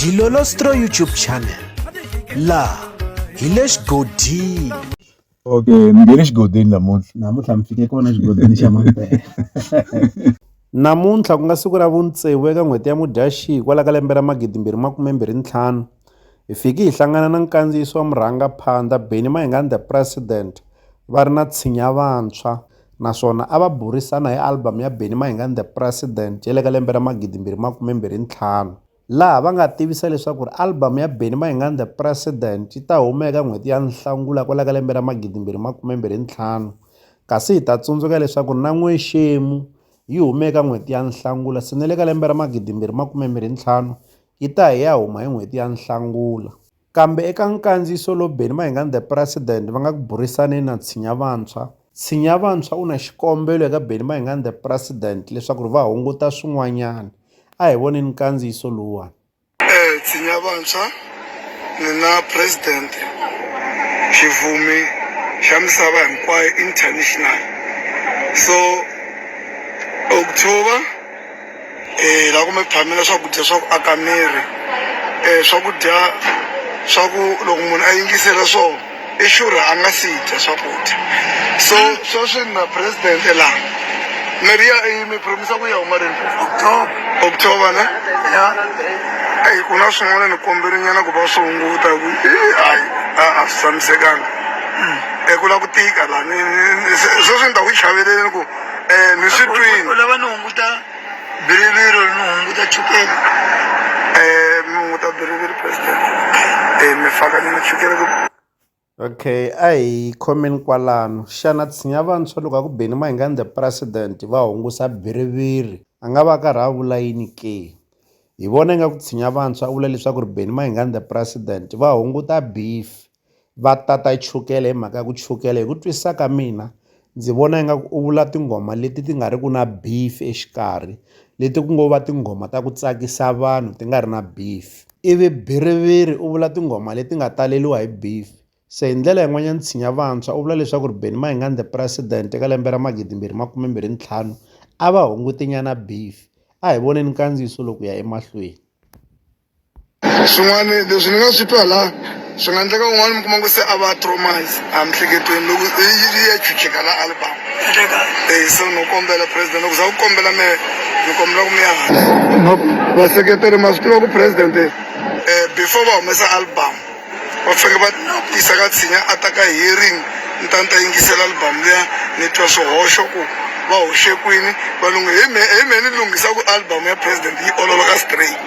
Dilolostro YouTube channel la hi le xigodini okay mi nge le xigodini namuntlha namuntlha mi fike kona xigodini xa mampela namuntlha ku nga siku ra vuntsevu eka n'hweti ya mudyaxihi kwala ka lembe ra magidimbirhi makumembirhi ntlhanu hi fiki hi hlangana na nkandziyiso wa murhangaphandha benny mahingani the president va ri na tshinya vantshwa naswona a va burisana hi album ya Benny Mayengani The President ya le ka lembe ra 2025 laha va nga tivisa leswaku ri album ya Benny Mayengani The President yi ta huma eka n'hweti ya Nhlangula kwala ka lembe ra 2025 kasi hi ta tsundzuka leswaku na N'wexemu yi hume eka n'hweti ya Nhlangula se ni le ka lembe ra 2025 yi ta hi ya huma hi n'hweti ya Nhlangula. Kambe eka nkandziyiso lowu Benny Mayengani The President va nga ku burisaneni na Tshinya Vantshwa, Tshinya Vantshwa u na xikombelo eka Benny Mayengani The President leswaku ri va hunguta swin'wanyana. A hi voneni nkandziyiso lowuwani. Tshinya Vantshwa, Mina President, xivumi xa misava hinkwayo international so u ku tshova. la ku mi phamela swakudya swa ku aka miri swakudya swa ku loko munhu a yingisela swo i sure a nga si dya swakudya so sweswi na president la mirhi ya i mi promise ku ya huma rini october october na ya eyi ku na swin'wana ni kombeli nyana ku va swi hunguta ku hayi a a swi tshamisekanga eku la ku tika la ni sweswi ni ta ku chaveleleni ku Eh, ni swi twini u lava ni hunguta biriviro ni hunguta chukele Eh, mi hunguta biriviri president Eh, mi faka ni machukele ku okay a hi khomeni kwalano xana tshinya vantshwa loko a ku beni mahingani the president va hungusa biriviri a nga va a karhi a vula yini ke hi vona ingaku tshinya vantshwa a vula leswaku ri beni mahingani the president va hunguta beef va tata chukele hi mhaka ya ku chukele hi ku twisisa ka mina ndzi vona ingaku u vula tinghoma leti ti nga ri ki na beef exikarhi leti ku ngo va tinghoma ta ku tsakisa vanhu ti nga ri na beef ivi Bhiriviri u vula tinghoma leti nga taleliwa hi beef se hi ndlela yin'wanyana tshinya vantshwa u vula leswaku ri Benny Mayengani the president eka lembe ra magidi mbirhi makume mbirhi ntlhanu a va hungutinyana beef a hi voneni nkandziyiso loko ya emahlweni. swin'wana leswi ni nga swi twa la swi nga endleka un'wana mi kuma ku se a va tromise a miehleketweni loko yi ya chucheka la album e so no kombela president loko za ku kombela me ni kombela ku mi ya no vaseketeri ma swi tiva ku president um before va humesa album Va faneke va yisa ka tshinya a ta ka hearing ni ta ni ta yingisela album liya ni twa swihoxo ku va hoxe kwini valungu hi me hi me ni lunghisa ku album ya president yi ololoka straight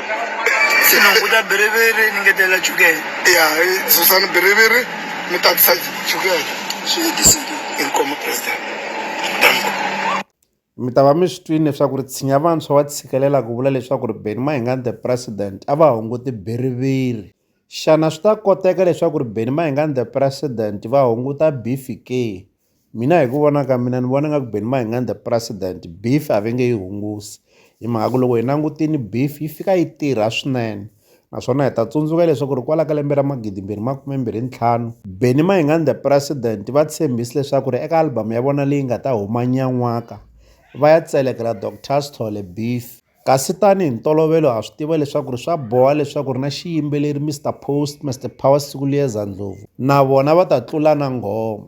se ni hunguta biriviri ni ngetelela chukele ya hi susa ni biriviri ni tatisa chukele swi hetisile inkomu president thank you Mi ta va mi swi twile leswaku ri tshinya vantshwa wa tshikelela ku vula leswaku ri Benni Mayengani the President a va hunguti biriviri. Xana swi ta koteka leswaku ri Benni Mayengani the President va hunguta bifi ke? Mina hi ku vona ka mina ni vona nga ku Benni Mayengani the President bifi a va nge yi hungusi hi mhaka ku loko hi langutile bifi yi fika yi tirha swinene. naswona hi ta tsundzuka leswaku ri kwala ka lembe ra magidimbirhi makume mbirhi ntlhanu Benny Mayengani the President va tshembisi leswaku ri eka album ya vona leyi nga ta huma nyan'waka va ya tselekela Doctor Sithole Beef kasi tani hi ntolovelo ha swi tiva leswaku ri swa boha leswaku ri na xiyimbeleri Mr Post Mr Power Sikuliyeza Ndlovu na vona va ta tlula na nghoma